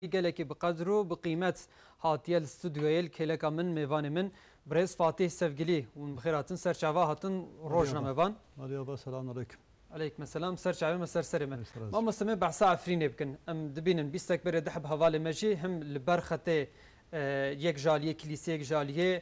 Gelekî bi qedr û bi qîmet hatiye li studyoyê li kêleka min mêvanê min birêz Fatîh Sevgilî hûn bi xêr hatin ser çava hatin rojnamevan. Alî ava selam aleyküm. Aleykme selam ser çavê me ser serê me. Mamoste me behsa Efrînê bikin em dibînin bîstek berê diheb hevalê me jî him li ber xetê yek jaliyê kilîseyek jaliyê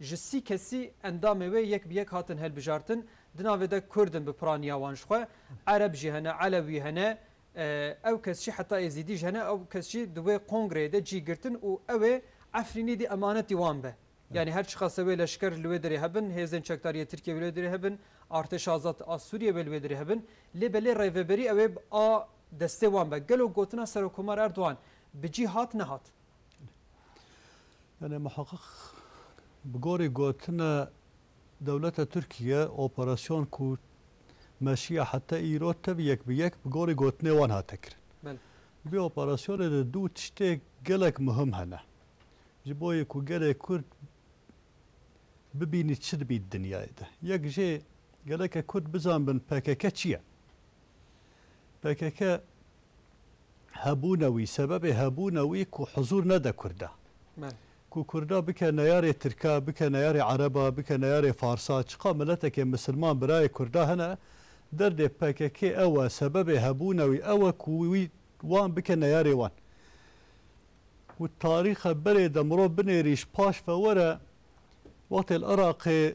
Ji sî kesî endamê wê yek bi yek hatin hilbijartin, di navê de Kurd in bi piraniya wan ji xwe, Ereb jî hene, Elewî hene, ew kes jî heta Êzîdî jî hene, ew kes jî di wê kongreyê de cî girtin û ew ê Efrînî dî emanetî wan be. Yanî her çiqase wê leşker li wê derê hebin, hêzên çekdariyê Tirkiyê wê li wê derê hebin, Artêşa Azad a Sûriyê wê li wê derê hebin lê belê rêveberî ew ê a destê wan be. Gelo gotina Serokomar Erdogan bi cî hat nehat? Yanê Muhaqiq bi gorî gotine dewleta Tirkiye operasyon ku meşiya heta îro tevî yek bi yek bi gorî gotinê wan hate kirin. Belê. Di vê operasyonê de du tiştê gelek muhim hene. Ji bo yê ku gelê Kurd bibînî çi dibî di dinyayê de. Yek jê geleke Kurd bizanbin pkk çi ye. Pkk hebûna wî, sebebê hebûna wî ku huzûr nede Kurda. Ku Kurda bike neyarê Tirka, bike neyarê Ereba, bike neyarê Farsa, çiqa miletekê misilman birayê Kurda hene, derdê pkk ew e, sebebê hebûna wî ew e ku wî wan bike neyarê wan. Û tarîxa berê de mirov binêrî ji paş ve were, wextê li Iraqê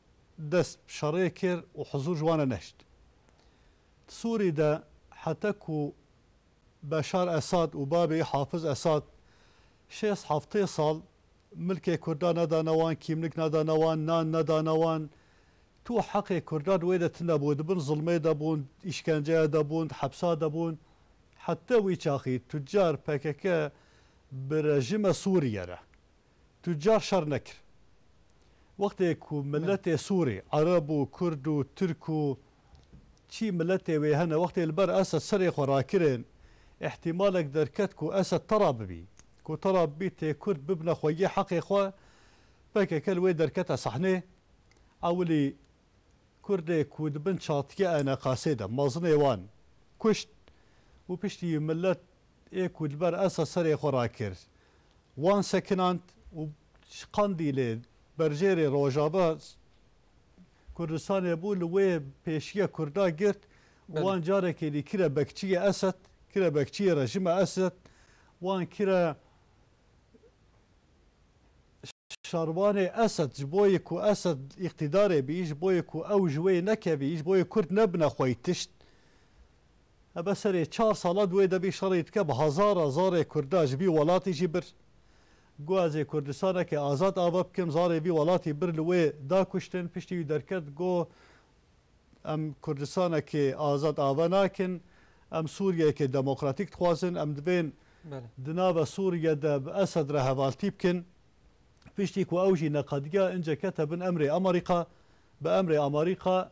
dest bi şerê kir û hizûr ji wan re nehişt. Di Sûrî de heta ku Beşar Esad û bavê wî Hafiz Esad şêst heftê sal milkê kurdan nedane wan, kîmlik nedane wan, nan nedane wan, tu heqê kurdan wê de tune bû, di bin zilmê de bûn, îşkenceyê de bûn, di hepsa de bûn. Heta wî çaxî tucar pkk bi rejîma Sûrîye re Tucar şer nekir. Wextê ku miletê Sûrî, Ereb û Kurd û Tirk û çî miletê wê hene wextê li ber Esed serê xwe rakirin, îhtîmalek derket ku Esed tera bibî. Ku tera bibî tê Kurd bibne xwegî heqê xwe, pkk li wê derkete sehnê. Ewilî Kurdê ku di bin çatike eneqasê de mezinê wan kuşt û piştî milet ê ku li ber Esed serê xwe rakir Wan sekinand û ji Qandîlê berjêrê Rojava Kurdistanê bû li wê pêşiya Kurda girt û wan carekê dî kire bekçiyê Esed, kire bekçiyê rejîma Esed, wan kire şervanê Esed ji bo yê ku Esed îqtîdarê bî, ji bo yê ku ew ji wê yê nekevî, ji bo yê Kurd nebine xweytişt. Hebe serê çar sala di wê de bî şerê dike bi hezara zarê kurda ji bî welatî jî bir. Got ez ê Kurdistaneke azad ava bikim zarê bî welatî bir li wê da kuştin piştî wî derket got em Kurdistanekê azad ava nakin em Sûriyeyekê demokratîk dixwazin em divên di nava Sûriye de bi Esed re hevaltî bikin. Piştî ku ew jî neqediya ince kete bin emrê Amarîka bi emrê Amarîka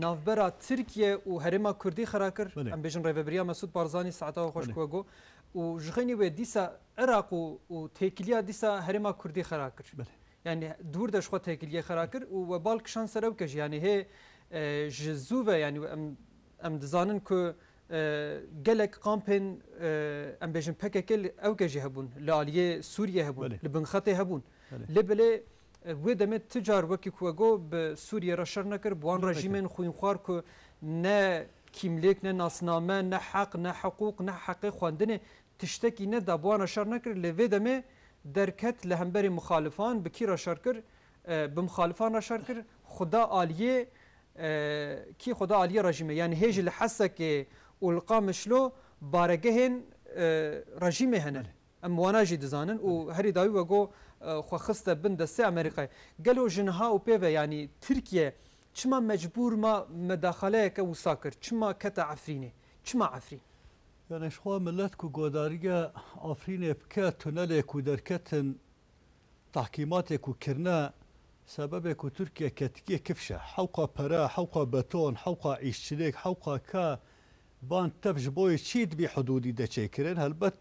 navbera Tirkiye û herêma Kurdî xira kir, em bêjin Rêvebiriya Mesûd Barzanî saeta we xweş ku we got û ji xênî wê dîsa Iraq û têkiliya dîsa herêma Kurdî xira kir. Yanî dûr de ji xwe têkiliyê xira kir û we bal kişand ser ew ke jî yanî hê ji zû ve yanî em em dizanin ku gelek kampên em bêjin PKK ew ke jî hebûn li aliyê Sûriyê hebûn li binxetê hebûn lê belê Wê demê tu car wekî ku we got bi Sûriyê re şer nekir, bi wan rejîmên xwînxwar ku ne kîmlêk, ne nasname, ne heq, ne hiqûq, ne heqê xwendinê tiştekî neda bi wan re şer nekir lê vê demê derket li hemberî mixalifan bi kî re şer kir? Bi mixalifan re şer kir, xwe da aliyê kî? Xwe da aliyê rejîmê. Yanî hê jî li Hesekê û li Qamişlo baregehên rejîmê hene. Em wana jî dizanin û herî dawî we got xwe xiste bin destê Amerîkayê. Gelo ji niha û pê ve yanî Tirkiye çima mecbûr ma medaxaleyeke wisa kir? Çima kete Efrînê? Çima Efrîn? Yanî ji xwe milet ku guhdarîya Efrînê bike tunelê ku derketin tehkîmatê ku kirine sebebê ku Tirkiye ketikiye kifş e. Hewqa pere, hewqa beton, hewqa îşçilik, hewqa ka, van tev ji bo yê çî dibî hidûdî de çêkirin? Helbet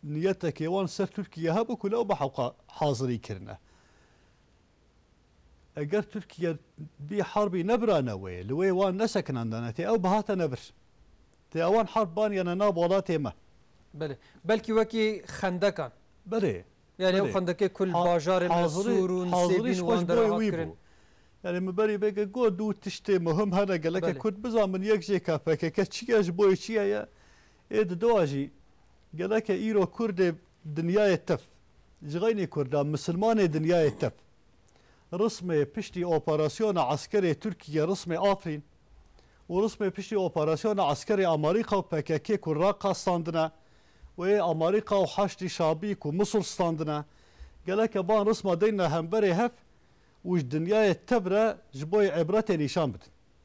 niyetekê wan ser Tirkiye hebû ku lewma hewqa hazirî kirine. Eger Tirkiye bî herbî nebirane wê, li wê wan nesekinandane tê ew bihatene vir. Tê ewan herb baniyane nav welatê me. Belê. Belkî wekî xendekan. Belê. Yanî ew xendekê ku li bajarên me Sûr û Nisêbîn wan de re hat kirin. Yanî min berî vê ke got du tiştê muhim hene gelekê Kurd bizanin yek jê ke pkk çi ye, ji bo yê çi heye. Ê di dowa jî geleke îro kurdê dinyayê tev, jixeynê kurda misilmanê dinyayê tev, rismê piştî operasyona eskerê Tirkîye rismê Afrîn û rismê piştî operasyona eskerê Amarîka û pkk ku Raqa standine û ê Amarîka û Haşdî Şabî ku Musul standine geleke van risma deyne hemverê hev û ji dinyayê tev re ji bo yê îbretê nîşan bidin.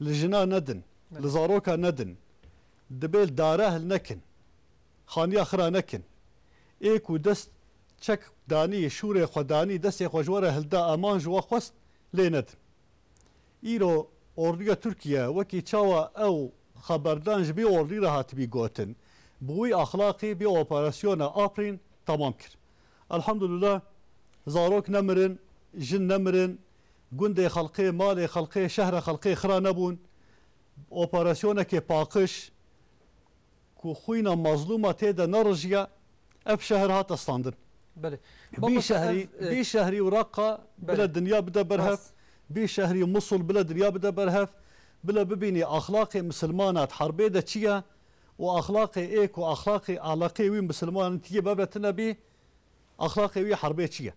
Li jina nedin, li zaroka nedin, dibê li dare hil nekin, xaniya xira nekin. Ê ku dest çek danî, şûrê xwe danî, destê xwe ji we re hilda, eman ji we xwest lê nedin. Îro orduya Tirkiye wekî çawa ew xeberdan ji vê ordûyê re hatibî gotin, bi wî axlaqî vê operasyona Afrîn temam kir. Elhamdulillah zarok nemirin, jin nemirin, Gundê xelkê, malê xelkê, şehra xelkê xira nebûn. Bi operasyonekê paqiş ku xwîna mazlûma tê de nerijiya, ev şehir hate standin. Belê. Bî Mamosta şehrî, ev e. bî şehrî û Raqqa bile Belê. dinya bide ber hev, Rast. bî şehrî û Musul bile dinya bide ber hev. Bile bibînî axlaqê misilmana di herbê de çi ye û axlaqê ê ku axlaqê eleqê wî misilmanin tî yê bebe tine bî, Exlaqê wî herbê çi ye?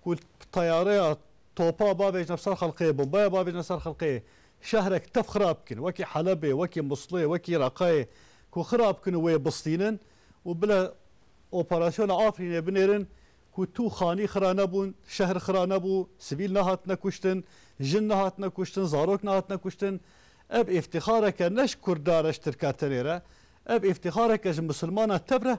Ku teyareya topa bavêjne ser xelqê, bombaya bavêjne ser xelqê, şehrek tev xirab bikin, wekî Helebê, wekî Musilê, wekî Reqayê ku xirab bikin û wê bistînin û bile operasyona Afrînê binêrin ku tu xanî xira nebûn, şehr xira nebû, sivîl nehatine kuştin, jin nehatine kuştin, zarok nehatine kuştin. Ev îftixareke ne ji Kurdan re, ji Tirkan tenê re, ev îftixareke ji Musilmanan tev re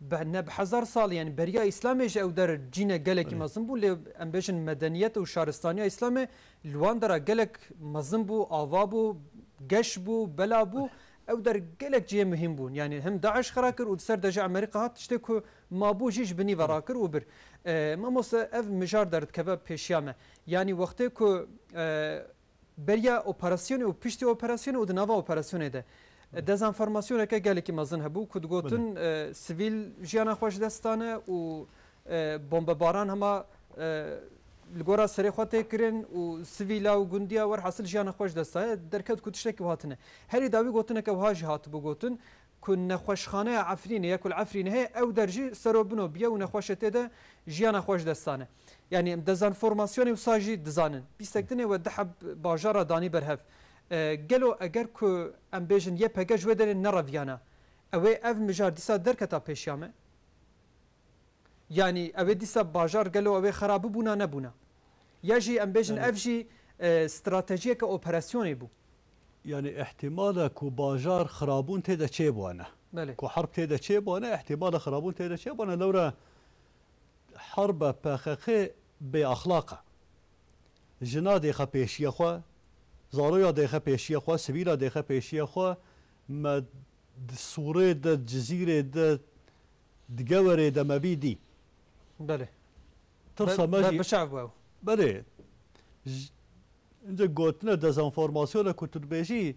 Be ne bi hezar sal yanî beriya îslamê ji ew der cîne gelekî mezin bû lê em bêjin medeniyet û şaristaniya îslamê li wan dera gelek mezin bû, ava bû, geş bû, bela bû. Ew der gelek cihê muhîm bûn. Yanî him DAIŞ xira kir û di ser de jî Amerîka hat tiştê ku mabû jî ji binî ve rakir û bir. Mamoste ev mijar derdikeve pêşiya me. Yanî wextê ku Beriya operasyonê û piştî operasyonê û di nava operasyonê de dezanformasyoneke gelekî mezin hebû ku digotin sivîl jiyana xwe ji dest dane û bombebaran hema li gora serê xwe tê kirin û sivîla û gundiya werhasil jiyana xwe ji dest daye. Derket ku tiştekî wiha tune. Herî dawî gotineke wiha jî hatibû gotin ku nexweşxaneya Efrînê ya ku li Efrînê heye ew der jî serobino biye û nexweşê tê de jiyana xwe ji dest dane. Yanî em dezan formasyonê wisa jî dizanin. Pîsek dinê we di heb bajar re danî ber hev. Gelo eger ku em bêjin YPG ji wê derê nereviyane, ewê ev mijar dîsa derketa pêşiya me? Yanî ewê dîsa bajar gelo ewê xera bibûna nebûna? Ya jî em bêjin ev jî stratejiyeke operasyonê bû? Yanî îhtîmala ku bajar xirabûn tê de çêbûane, ku herb tê de çêbûane, îhtîmala xirabûn tê de çêbûane. Lewre Herba pxk bê axlaq e. Jina dêxe pêşiya xwe, zaroya dêxe pêşiya xwe, sivîla dêxe pêşiya xwe, me di Sûrê de, di Cizîrê de, di Gewerê de me bî dî. Belê. Tirsa me jî. Berbiçav bû ew. Belê. Ji, ince gotine dezenformasyona ku tu dibêjî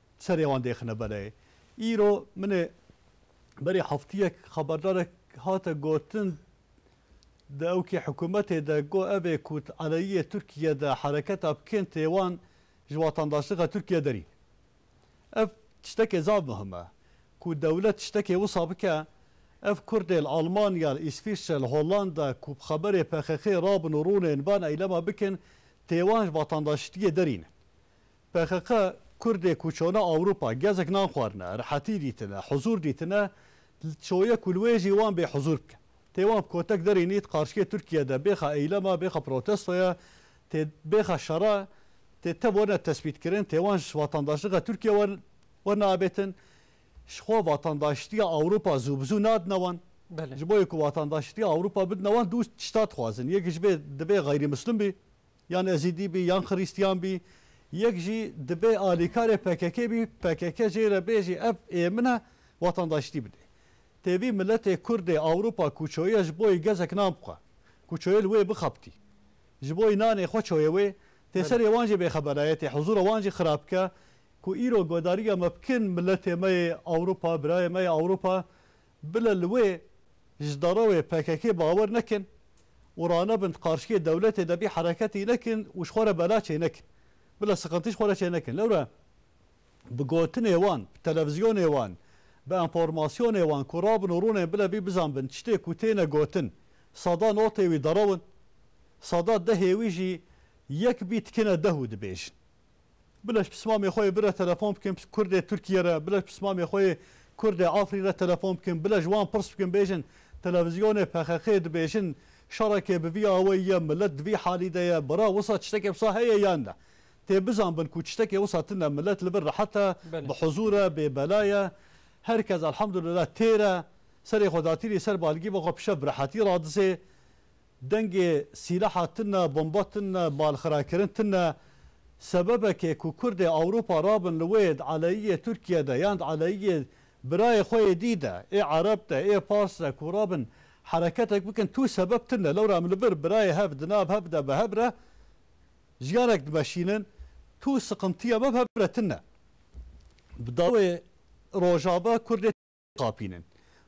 serê wan dêxine beleyê. Îro min ê berê heftiyek xeberdarek hate gotin di ewkê hikûmetê de got ev ê ku di aleyiyê Tirkiyê de hereketa bikên tê wan ji watandaşliga Tirkiyê derîn. Ev tiştekê zaf muhim e. Ku dewlet tiştekê wisa bike, ev Kurdê li Almanya, li Îsfîsre, li Hollanda ku bi xeberê PKK'ê rabin û rûnên van eylema bikin tê wan ji vatandaşliyê derîn. PKK, Kurdê ku çone Ewropa gezek nan xwarine, rehetî dîtine, huzûr dîtine, çoye ku li wê jî wan bê huzûr bike. Tê wan bi kotek derê nît qarşikê Tirkiye de bêxa eylema, bêxa protestoya, tê bêxa şera, tê tev wene tespîtkirin, tê wan ji vatandaşliga Tirkiye wan wene abêtin. Ji xwe vatandaşitiya Ewropa zû bi zû nadine wan. Belê. Ji bo yê ku vatandaşitiya Ewropa bidine wan dû tişta dixwazin. Yek ji bê dibê xeyrî mislum bî. Yan Ezîdî bî yan Xirîstîyan bî, yek jî dibê alîkarê pkk bî, pkk jê re bê jî ev ê min e, watandaşîtî bidê. Têbî miletê kurdê Ewropa ku çoye ji bo yê gezek nan bixwe, ku çoye li wê bixebitî, ji bo yê nanê xwe çoye wê, tê serê wan jê bêxeberaye, tê huzûra wan jî xirab bike, ku îro guhdarîya me bikin miletê me yê Ewropa, birayê me yê Ewropa, Bila li wê ji dara wê pkk bawer nekin û ranebin qarşikê dewletê de bî hereketî nekin û ji xwe re bela çênekin. Bila siqintî ji xwe re çênekin. Lewre bi gotinê wan, bi televizyonê wan, bi enformasyonê wan ku rabin û rûnên bila bî bizanbin tiştê ku têne gotin sada notê wî derew in. Sada dehê wî jî yek bî tikine deh û dibêjin. Bila ji pismamê xwe yê bi re telefon bikin kurdê Tirkiyê re, bila ji pismamê xwe yê kurdê Afrîn re telefon bikin, bila ji wan pirs bikin bêjin televizyonê pexexê dibêjin şerekê bi vî awayî ye, milet di vî halî de ye, bira wisa tiştekê wisa heye yan ne. Tê bizanbin ku tiştekê wisa tune, milet li vir rehet e, bi huzûr e, bê bela ye. Her kes elhamdulillah têr e, serê xwe datîrî ser balgîva xwe pişev bi rehetî radizê. Dengê sîlaha tune, bomba tune, balxirakirin tune sebebekê ku Kurdê Ewropa rabin li wê di aleyiyê Tirkiye de yan di aleyiyê birayê xwe yê dî de, ê Ereb de, ê Pars de ku rabin hereketek bikin tu sebeb tune. Lewra em li vir birayê hev di nav hev de bi hev re jiyanek dimeşînin tu siqintiya me bi hev re tune. Bi dawê Rojava Kurdê. Xapînin.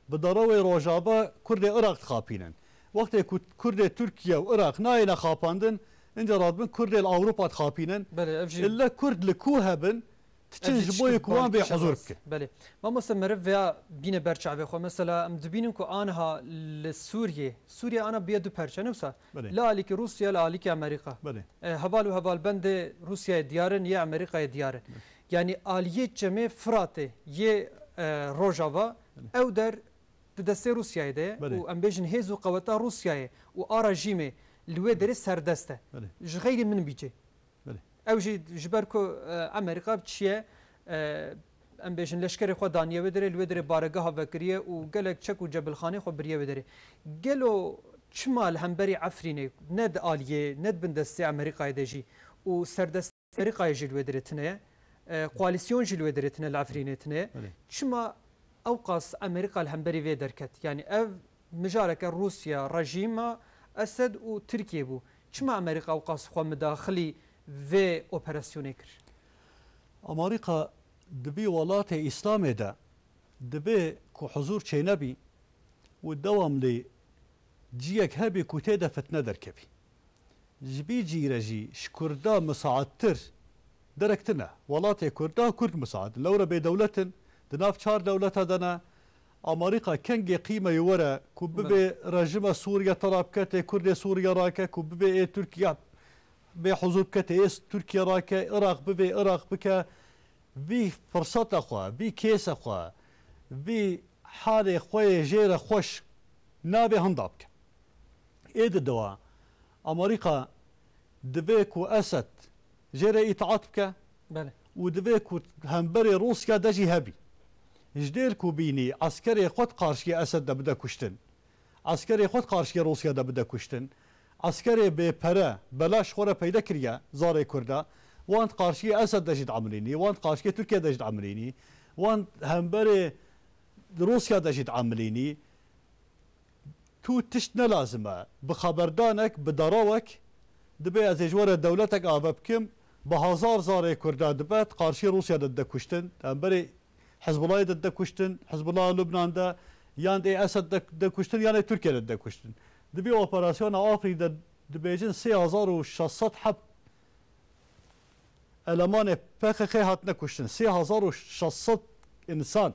Bi darawê Rojava Kurdê Iraq dixapînin. Wextê ku Kurdê Tirkiye û Iraq nayêne xapandin, inca radibin Kurdê li Ewropa dixapînin. Belê, ev jî. Îlle Kurd li ku hebin, diçin ji bo yê ku wan bê huzûr bikin. Belê. Mamoste meriv vêya bîne ber çavê xwe. Mesela em dibînin ku aniha li Sûriyê, Sûriye ana bûye du perçe ne wisa? La alîkî Rûsya, la alîkî Amerîka. Heval û hevalbendê Rûsyayê diyar in, yê Amerîkayê diyar in. Yanî aliyê çemê Firatê yê Rojava ew der di destê Rûsyayê de ye û em bêjin hêz û qeweta Rûsyayê û a rejîmê li wê derê serdest e. Ji xeylê min bî cê. Ew jî ji ber ku Amerîka çiye em bêjin leşkerê xwe daniye wê derê, li wê derê baregeha vekiriye û gelek çek û cebilxaneyên xwe biriye wê derê. Gelo çima li hemberî Efrînê ne di aliyê ne di bin destê Amerîkayê de jî û serdestî Amerîkayê jî li wê derê tune ye, koalîsyon jî li wê derê tune li Efrînê tune ye, çima ewqas Amerîka li hemberî vê derket? Yanî ev mijareke Rûsya, rejîma Esed û Tirkiyê bû. Çima Amerîka û qas xwe midaxilî vê operasyonê kir? Amerîka di vî welatê Îslamê de divê ku huzûr çênebî û dewamlî ciyek hebî ku tê de fitne derkevî. Ji vî cî re jî ji Kurda misaettir derek tine. Welatê Kurda Kurd misaet in. Lewre bêdewlet in, di nav çar dewleta de ne, Amerîka kengê qîmeyê were ku bibê rejîma Sûriye tera biketê Kurdê Sûriye rake ku bibê ê Tirkiye bê huzûr biketê ê Tirkiye rake Iraq bibê Iraq bike vî firseta xwe vî kêsa xwe vî halê xwe yê jê re xweş nabê hinda bike. Ê di dewa Amerîka divê ku Esed jê re îtaat bike û divê ku hemberê Rûsya de jî hebî. Ji dêr ku bînî eskerê xwe di qarşiyê Esed de bide kuştin, eskerê xwe di qarşiyê Rûsya de bide kuştin, eskerê bê pere, belaş xwe re peyde kiriye zarê kurd e, wan di qarşiyê Esed de jî diemilînî, wan di qarşiyê Tirkiye de jî diemilînî, wan hemberê Rûsya de jî diemilînî. Tu tişt ne lazim e. Bi xeberdanek, bi derawek dibe ez ê ji we re dewletek ave bikim. Bi hezar zarê Kurdan dibe di qarşî Rûsya de dide kuştin, di hemberî Hizbulayê de dide kuştin, Hizbulaya Lubnan de, yan ê Esed de dide kuştin yan ê Tirkiye de dide kuştin. Di vî operasyona Afrîn de dibêjin sê hezar û şeş sed heft elemanê PKK'ê hatine kuştin. Sê hezar û şeş sed însan.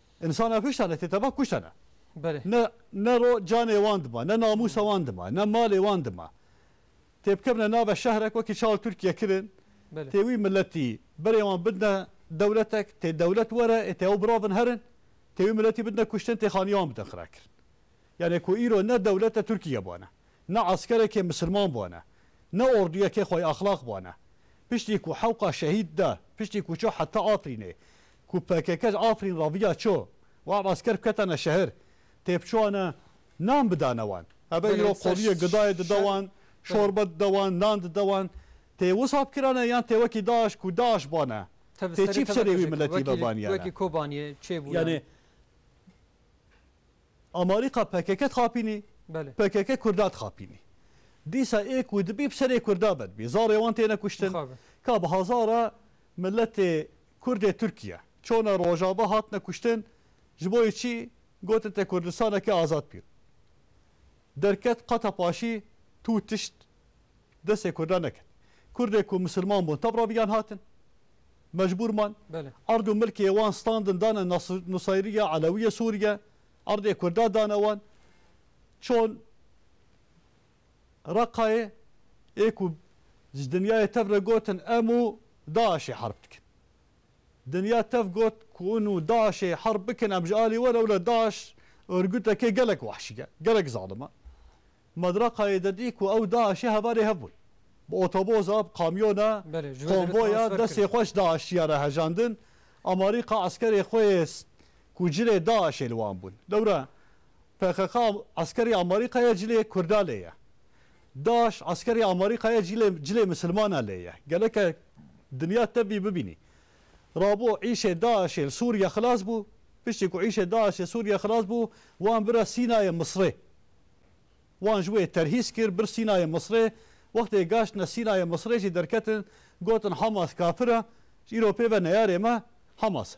Însan e kuştane, tê teva kuştane. Belê. Ne ne ro canê wan dima, ne namûsa wan dima, ne malê wan dima. Tê bikevne nave şehrek wekî çawa Tirkiye kirin, Belê. tê wî miletî berê wan bidne dewletek, tê dewlet were ê tê ew biravin herin, tê wî miletî bidne kuştin, tê xaniya wan bidin xirakirin. Yanê ku îro ne dewlete Tirkiye bane, ne eskerekê misilman bane, ne orduyekê xwayî exlaq bane. Piştî ku hewqa şehîd de, piştî ku çû heta Afrînê, Ku pkk ji Afrîn raviya ço û ev esker biketane şehir, têbiçûane nan bidane wan. Hebe îro qoliyê gidayê dide wan, çorbe dide wan, nan dide wan. Tê wisa bikirane yan tê wekî DAIŞ ku DAIŞ bane? Tê çî bi serê wî miletî ve baniyane? Yanê amarîka pkk dixapînî, pkk kurda dixapînî. Dîsa ê ku dibî bi serê kurda ve dibî. Zarê wan têne kuştin. Ka bi hezara miletê Kurdê Tirkiye çona Rojava hatine kuştin ji bo yê çi gotin te Kurdistaneke azad bî derket qata paşî tu tişt destê Kurdan neket. Kurdê ku misilman bûn tevra viyan hatin mecbûr man erd û milkê wan standin dane Nusayriya Elewiyê Sûriye erdê Kurda dane wan çon Reqayê ê ku ji dinyayê tev re gotin em û DAIŞ'ê herb dikin. Dinya tev got ku hûn û DAIŞ'ê herb bikin em ji alî we re wile DAIŞ örgûtekê gelek wahşî ye, gelek zalim e. Me di Reqayê de dî ku ew DAIŞ'ê hevalê hev bûn. Bi otoboza, bi kamyona, konvoya destê xwe ji DAIŞ'tiya re hejandin, amarîqa eskerê xwe yê ku cilê DAIŞ'ê li wan bûn. Lewre Pkk eskerê Amarîka ye cilê Kurda lê ye. DAIŞ eskerê Amarîka ye cilê cilê misilmana lê ye. Geleke dinya tevî bibînî. Rabo îşê DAIŞê li Sûriye xilas bû. Piştî ku îşê DAIŞê Sûriye xilas bû, wan bira Sînayê Misrê. Wan ji wê terhîs kir, bir Sînayê Misrê. Wextê gaştine Sînayê Misrê jî derketin, gotin Hamas kafir e. Îro pê ve neyarê me Hamas e.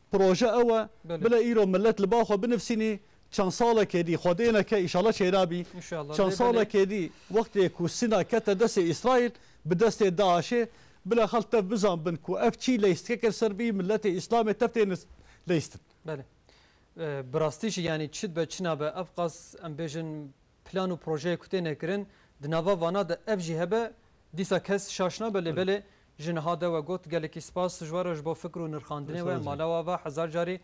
Proje ew e. Bile îro milet li ba xwe binivsînî çend salekê dî, xwedê neke îşallah çêra bî, çend salekê dî wextê ku Sîna kete destê Îsraîl bi destê DAIŞ'ê bile xelk tev bizanbin ku ev çî leyîstikek ir ser bî miletê Îslamê tev tê leyîstin. Belê. Bi rastî jî yanî çi dibe çi nabe ev qas em bêjin Plan û projeyê ku têne kirin di nava vana de ev jî hebe dîsa kes şaş nabe lê belê ji niha de we got gelekî spas Sujwaro ji bo fikr û nirxandinê we mala we ava hezar carî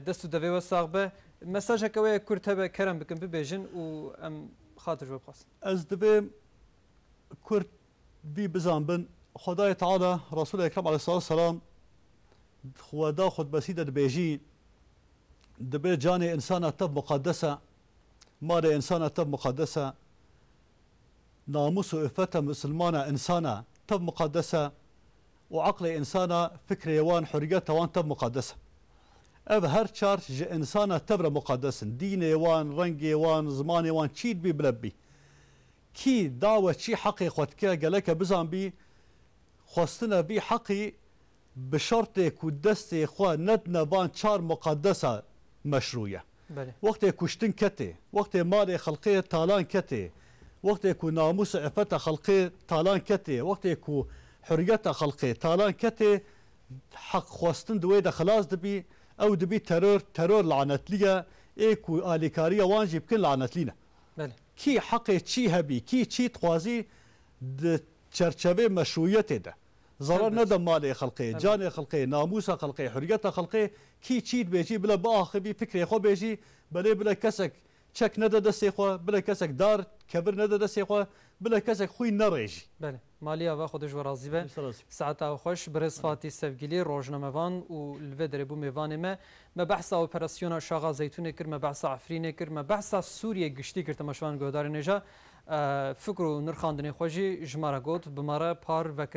dest û devê we sax be. Mesajeke we ye kurt hebe kerem bikin bibêjin û em xatir ji we bixwazin. Ez divê kurt vî bizanbin Xwedayê Teala Resûlê Ekrem Aleyhsalatu Selam di Xweda Xutbesî de dibêjî, Dibe canê însana tev muqedes e Malê însan e tev muqedes e. Namûs û îffeta misilman a însan e tev muqedes e û eqlê însan a fikrê wan huriyeta wan tev muqedes e. Ev her çar ji însan a tev re muqedes in. Dînê wan, rengê wan, zimanê wan çî dibî bila bibî. Kî dawe çî heqê xwe dike geleke bizanbî xwestine vî heqî bi şertê ku destê xwe nedine van çar muqedesa meşrû ye. Wextê kuştin ketê, wextê malê xelkê talan ketê, wextê ku namûs û îffeta xelkê talan ketê, wextê ku huriyeta xelkê talan ketê, heqxwestin di wê de xilas dibî, ew dibî teror, teror lanetlî ye, ê ku alîkariya wan jî bikin lanetlî ne. Kî heqê çî hebî, kî çî dixwazî di çerçevê meşrûiyetê de. Zarar neda malê xelkê, canê xelkê, namûsa xelkê, huriyeta xelkê, kî çî dibêjî bila biaxivî, fikrê xwe bêjî, belê bila kesek çek neda destê xwe, bila kesek dar, kebir neda destê xwe, bila kesek xwîn nerêjî. Belê. Malê ava xwe de ji we razî be. Saet a xweş birêz Fatî Sevgîlî, rojnamevan û li vê derê bû mêvanê me. Me behsa operasyona Şaxa Zeytûnê kir, me behsa Efrînê kir, me behsa Sûriyê giştî kir temaşevan guhdarên ê ja fikr û nirxandinên xwe jî ji me re got, bi me re par vekir.